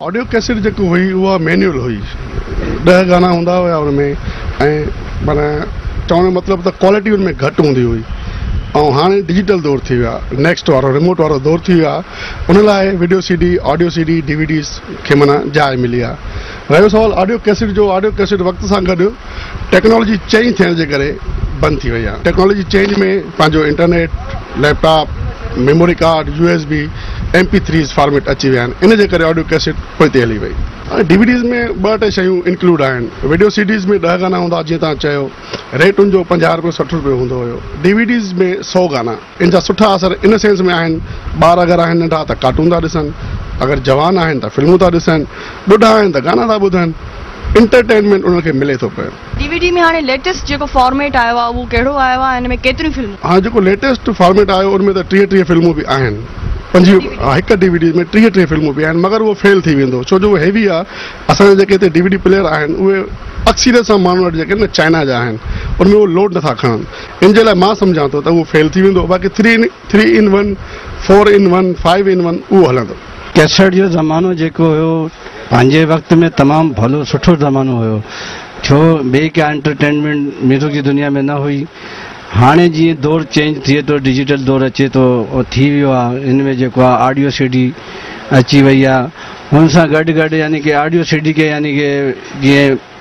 Audio cassette جيڪي هئي اها مينيول هئي ڏهه گانا هوندا هيا ان ۾ ۽ معنيٰ چوڻ جو مطلب ته ڪوالٽي ان ۾ گهٽ هوندي هئي ۽ هاڻي ڊجيٽل دور ٿي ويو آهي نيڪسٽ وارو ريموٽ وارو دور ٿي ويو آهي ان لاء video C D audio C D D V Ds کي معنيٰ جاء ملي آهي رهيو سوال آڊيو ڪيسيٽ جو آڊيو ڪيسيٽ وقت سان گڏ ٽيڪنالاجي چينج ٿيڻ جي ڪري بند ٿي وئي آهي ٽيڪنالاجي چينج ۾ پنهنجو internet laptop memory card U S B M P threes format اچي ويا آهن ان جي ڪري آڊيو ڪيسٽ پوئتي هلي وئي هاڻي ڊي وي ڊيز ۾ ٻه ٽي شيون انڪلوڊ آهن وڊيو سي ڊيز ۾ ڏهه گانا هوندا جيئن توهان چيو ريٽ ان جو پنجاهه روپيو سٺ روپيو هوندو هيو ڊي وي ڊيز ۾ سو گانا ان جا سٺا اثر ان سينس ۾ آهن ٻار اگر آهن ننڍا ته ڪارٽون ٿا ڏسن، اگر جوان آهن ته فلمون ٿا ڏسن، ٻڍا آهن ته گانا ٿا ٻڌن، انٽرٽينمينٽ انهن کي ملي ٿو پيو. ڊي وي ڊي ۾ هاڻي ليٽيسٽ جيڪو فارميٽ آيو آهي اهو ڪهڙو آيو آهي ۽ ان ۾ ڪيتريون فلمون. هاڻي جيڪو ليٽيسٽ فارميٽ آيو ان ۾ ته ٽيهه ٽيهه فلمون به آهن پنجويهه ها هڪ ڊي وي ڊي ۾ ٽيهه ٽيهه فلمون به آهن مگر اهو فيل ٿي ويندو ڇو جو اهو هيوي آهي اسان جا جيڪي هتي ڊي وي ڊي پليئر آهن اهي اڪثريت سان ماڻهن وٽ جيڪي آهن نه چائنا جا آهن ان ۾ اهو لوڊ نٿا کڻن ان جي لاء مان سمجهان ٿو ته اهو فيل ٿي ويندو باقي three in three in one, four in one, five in one اهو هلندو. ڪيسٽ جو زمانو جيڪو هيو پنهنجي وقت ۾ تمام ڀلو سٺو زمانو هيو ڇو ٻي ڪا انٽرٽينمينٽ ميوزڪ جي دنيا ۾ نه هئي هاڻي جيئن دور چينج ٿئي ٿو ڊجيٽل دور اچي ٿو ٿي ويو آ ان ۾ جيڪو آ آڊيو سي ڊي اچي وئي آ ان سان گڏ گڏ يعني ڪي آڊيو سي ڊي کي يعني ڪي جيئن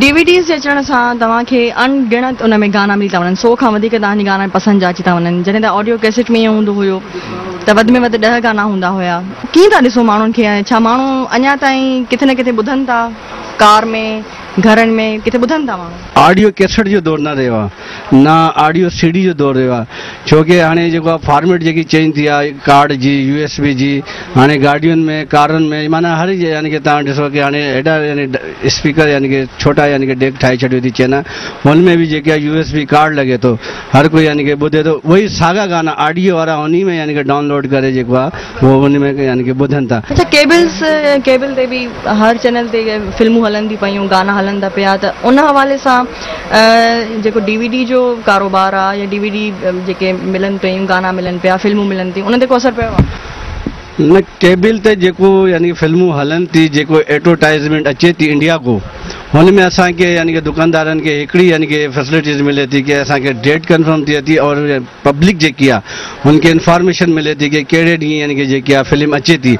ڊي وي ڊيز جي اچڻ سان توهان کي اڻ ڳڻت ان ۾ گانا ملي ٿا وڃن، سو کان وڌيڪ توهان جي گانا پسند جا اچي ٿا وڃن، جڏهن ته آڊيو ڪيسٽ ۾ ائين هوندو هيو ته وڌ ۾ وڌ ڏهه گانا هوندا هيا. ڪيئن ٿا ڏسو ماڻهن کي ۽ ڇا ماڻهو اڃا تائين ڪٿي نه ڪٿي ٻڌن ٿا، ڪار ۾، گهرن ۾، ڪٿي ٻڌن ٿا ماڻهو؟ آڊيو ڪيسٽ جو دور نه رهيو آهي، نه آڊيو سي ڊي جو دور رهيو آهي ڇو ڪي هاڻي جيڪو آهي فارميٽ جيڪي چينج ٿي آهي ڪارڊ جي يو ايس بي جي هاڻي گاڏين ۾ ڪارن ۾ معنيٰ هر جي يعني ڪي تان ڏسو ڪي هاڻي هيڏا يعني اسپيڪر يعني ڪي ڇوٽا يعني ڪي ڊيڪ ٺاهي ڇڏيو ٿي چينا هن ۾ به جيڪي يو ايس بي ڪارڊ لڳي ٿو هر ڪو يعني ڪي ٻڌي ٿو وئي ساڳا گانا آڊيو وارا انهي ۾ يعني ڪي ڊائونلوڊ ڪري جيڪو آهي هو ان ۾ يعني ڪي ٻڌن ٿا. اڇا ڪيبلز ڪيبل تي به هر چينل تي فلمون هلن ٿي پيون گانا هلن ٿا پيا ته ان حوالي سان جيڪو ڊي وي ڊي جو ڪاروبار آ يا ڊي وي ڊي جيڪي ملن پيون گانا ملن پيا فلمون ملن ٿيون انهن تي ڪو اثر پيو آ؟ نه ڪيبل تي جيڪو يعني فلمون هلن ٿي جيڪو ايڊورٽائزمينٽ اچي ٿي انڊيا ڪو هن ۾ اسان کي يعني ڪي دڪاندارن کي هڪڙي يعني ڪي فيسلٽيز ملي ٿي ڪي اسان کي ڊيٽ ڪنفرم ٿئي ٿي اور پبلڪ جيڪي آ هن کي انفارميشن ملي ٿي ڪي ڪهڙي ڏينهن يعني ڪي جيڪي آ فلم اچي ٿي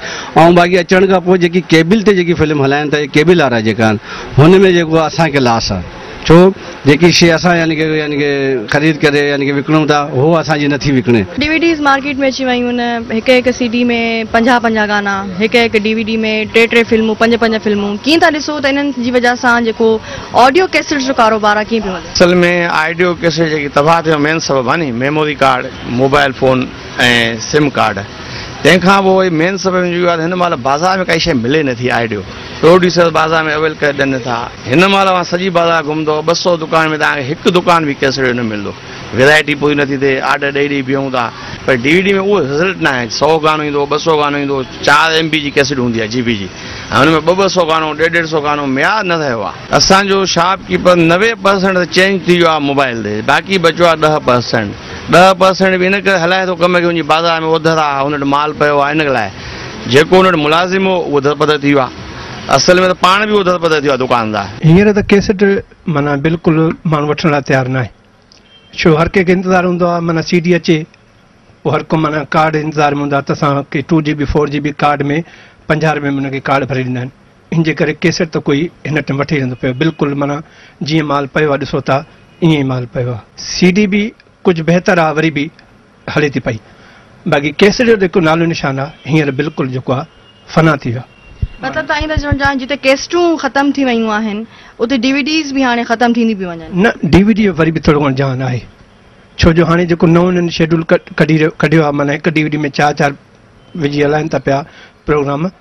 ۽ باقي اچڻ کان پوء جيڪي ڪيبل تي جيڪي فلم هلائين ٿا يا ڪيبل وارا جيڪا آهن هن ۾ جيڪو آ اسان کي لاس آ ڇو جيڪي شي اسان يعني ڪي يعني ڪي خريد ڪري يعني ڪي وڪڻون ٿا هو اسان جي نٿي وڪڻي. ڊي وي ڊيز مارڪيٽ ۾ اچي ويون آهن هڪ هڪ سي ڊي ۾ پنجاهه پنجاهه گانا هڪ هڪ ڊي وي ڊي ۾ ٽي ٽي فلمون پنج پنج فلمون ڪيئن ٿا ڏسو ته انهن جي وجه سان جيڪو آڊيو ڪيسٽ جو ڪاروبار ڪيئن پيو هلي؟ اصل ۾ آڊيو ڪيسٽ جيڪي تباهه ٿيو مين سبب آهي ني memory card mobile phone ۽ sim card تنهن کان پوء وئي مين سبب اهو آهي ته هن مهل بازار ۾ ڪائي شئي ملي نه ٿي آڊيو پروڊيوسر بازار ۾ اويل ڪري ڏين ٿا هن مهل اوهان سڄي بازار گهمندو ٻه سئو دڪان ۾ توهان کي هڪ دڪان به ڪيسٽ جو نه ملندو. ويرائٽي پوري نٿي ٿئي آرڊر ڏئي ڏئي بيهون ٿا پر ڊي وي ڊي ۾ اهو رزلٽ نه آهي سو گانو ايندو ٻه سو گانو ايندو چار ايم بي جي ڪيسٽ هوندي آهي جي بي جي ۽ ان ۾ ٻه ٻه سو گانو ڏيڍ ڏيڍ سو گانو معيار نه رهيو آهي اسان جو شاپ ڪيپر نوي پرسنٽ ته چينج ٿي ويو آهي موبائل تي باقي بچيو آهي ڏهه پرسنٽ ڏهه پرسنٽ به ان ڪري هلائي ٿو ڪم کي ان جي بازار ۾ اوڌر آهي هن وٽ مال پيو آهي ان لاء جيڪو هن وٽ ملازم هو اهو در پدر ٿي ويو آهي اصل ۾ ته پاڻ به اوڌر پدر ٿي ويو آهي دڪاندار. هينئر ته ڪيسٽ معنيٰ بلڪل ماڻهو وٺڻ لاء تيار ناهي ڇو هر ڪنهن کي انتظار هوندو آهي معنيٰ سي ڊي اچي پوء هر ڪو معنيٰ ڪارڊ انتظار ۾ هوندا ته اسان کي two G B four G B card ۾ پنجاهه روپين ۾ ان کي ڪارڊ ڀري ڏيندا آهن ان جي ڪري ڪيسٽ ته ڪوئي هن ٽيم وٺي هلندو پيو بلڪل معنيٰ جيئن مال پيو آهي ڏسو ٿا ائين ئي مال پيو آهي سي ڊي بي ڪجهه بهتر آ وري به هلي ٿي پئي باقي ڪيسٽ جو جيڪو نالو نشان آ هينئر بلڪل جيڪو آ فنا ٿي ويو آ. مطلب توهان اهي ٿا چوڻ چاهيو جتي ڪيسٽون ختم ٿي ويون آهن اتي ڊي وي ڊيز به هاڻي ختم ٿينديون پيون وڃن. نه ڊي وي ڊي وري به ٿورو گهڻو جهان آهي ڇو جو هاڻي جيڪو نئون هنن شيڊول ڪڍي ڪڍيو آ معنيٰ هڪ ڊي وي ڊي ۾ چار چار وجهي هلائن ٿا پيا پروگرام.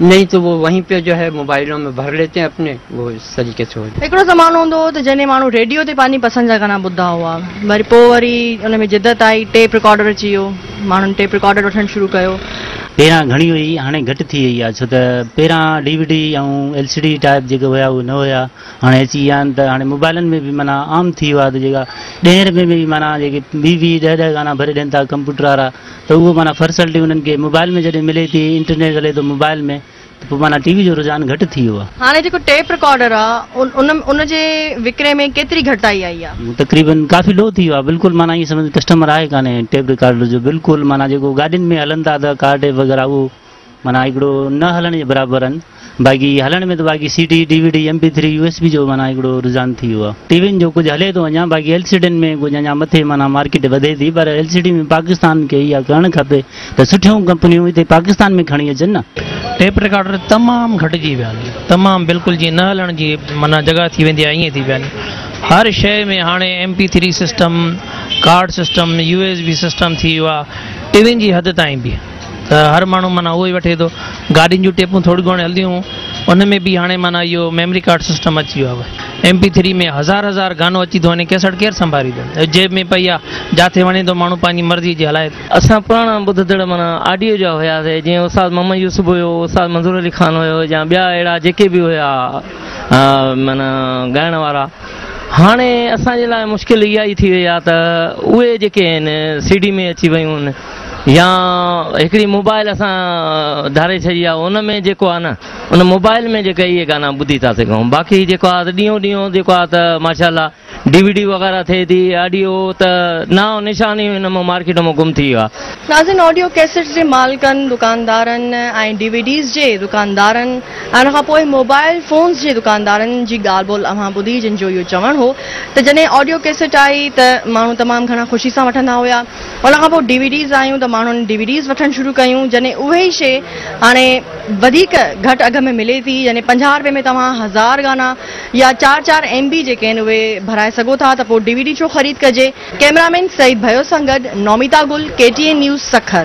نهين تو وو وهين پي جو هي موبائلون مي ڀر ليتي هين اپني وو اس طريقي سي هوجا. هڪڙو زمانو هوندو هو ته جنهن ماڻهو ريڊيو تي پنهنجي پسند جا گانا ٻڌدا هئا وري پوء وري ان ۾ جدت آئي ٽيپ رڪارڊر اچي ويو ماڻهن ٽيپ رڪارڊر وٺڻ شروع ڪيو. پهريان گهڻي هئي هاڻي گهٽ ٿي وئي آ ڇو ته پهريان D V D ۽ L C D type جيڪي هيا اهي نه هيا هاڻي اچي ويا آهن ته هاڻي موبائلن ۾ به معنيٰ عام ٿي ويو آهي ته جيڪا ڏهين رپين ۾ به معنيٰ جيڪي ويهه ويهه ڏهه ڏهه گانا ڀري ڏين ٿا ڪمپيوٽر وارا ته اهو معنيٰ فرسلٽي انهن کي موبائل ۾ جڏهن ملي ٿي انٽرنيٽ هلي ٿو موبائل ۾ ته پوء معنيٰ ٽي وي جو رجحان گهٽ ٿي ويو آهي. هاڻي جيڪو ٽيپ رڪارڊر آ ان ان جي وڪري ۾ ڪيتري گهٽتائي آئي آ؟ تقريبن ڪافي لو ٿي ويو آ بلڪل معنيٰ ائين سمجهه ته ڪسٽمر آهي ڪانهي ٽيپ رڪارڊر جو بلڪل معنيٰ جيڪو گاڏين ۾ هلن ٿا ته ڪار ٽيپ وغيره اهو معنيٰ هڪڙو نه هلڻ جي برابر آهن باقي هلڻ ۾ ته باقي C D, D V D, M P three, U S B جو معنيٰ هڪڙو رجحان ٿي ويو آهي. ٽي وين جو ڪجهه هلي ٿو اڃان باقي ايل سي ڊين ۾ ڪجهه اڃان مٿي معنيٰ مارڪيٽ وڌي ٿي پر ايل سي ڊي ۾ پاڪستان کي اها ڪرڻ کپي ته سٺيون ڪمپنيون هتي پاڪستان ۾ کڻي اچن نه. ٽيپ رڪارڊر تمام گهٽجي ويا آهن تمام بلڪل جيئن نه هلڻ جي معنيٰ جڳهه ٿي ويندي آهي ائين ٿي ويا آهن هر شيء ۾ هاڻي M P three system, card system, U S B system ٿي ويو آهي ٽي وين جي حد تائين به. ته هر ماڻهو معنيٰ اهو ئي وٺي ٿو گاڏين جون ٽيپون ٿوريون گهڻيون هلنديون هيون ان ۾ به هاڻي معنيٰ اهو ميمري ڪارڊ سسٽم اچي ويو آهي ايم پي ٿري ۾ هزار هزار گانو اچي ٿو وڃي ڪيسٽ ڪير سنڀاريندو جيب ۾ پئي آهي جاٿي وڻي ٿو ماڻهو پنهنجي مرضي جي هلائي ٿو. اسان پراڻا ٻڌندڙ معنيٰ آڊيو جا هياسي جيئن استاد محمد يوسف هيو استاد منظور علي خان هيو يا ٻيا اهڙا جيڪي به هيا معنيٰ ڳائڻ وارا هاڻي اسان جي لاء مشڪل اها ئي ٿي وئي آهي ته اهي جيڪي آهن سي ڊي ۾ اچي ويون آهن يا هڪڙي موبائل اسان ڌاري ڇڏي آهي ان ۾ جيڪو آهي نه ان موبائل ۾ جيڪا اهي گانا ٻڌي ٿا سگهون باقي جيڪو آهي ڏينهون ڏينهون جيڪو آهي ته ماشاء الله ڊي وي ڊي وغيره ٿئي ٿي آڊيو ته ناو نشان ئي هن ۾ مارڪيٽ ۾ گم ٿي ويو آهي ناظرين آڊيو ڪيسٽس جي مالڪن دڪاندارن ۽ ڊي وي ڊيز جي دڪاندارن ۽ ان کان پوء موبائل فونز جي دڪاندارن جي ڳالهه ٻولهه اوهان ٻڌي جن جو اهو چوڻ هو ته جڏهن آڊيو ڪيسٽ آئي ته ماڻهو تمام گهڻا خوشي سان وٺندا هيا ان کان پوء ڊي وي ڊيز آيون ته ماڻهن ڊي وي ڊيز وٺڻ شروع ڪيون جڏهن اهي ئي شي هاڻي وڌيڪ گهٽ اگهه ۾ ملي ٿي يعني پنجاهه رپئي ۾ توهان هزار گانا يا چار چار ايم بي جيڪي آهن اهي ڀرائي سگهو ٿا ته پوء ڊي وي ڊي ڇو خريد ڪجي. ڪئميرامين سعيد ڀيو سان گڏ Namita Gul, K T N news Sukkur.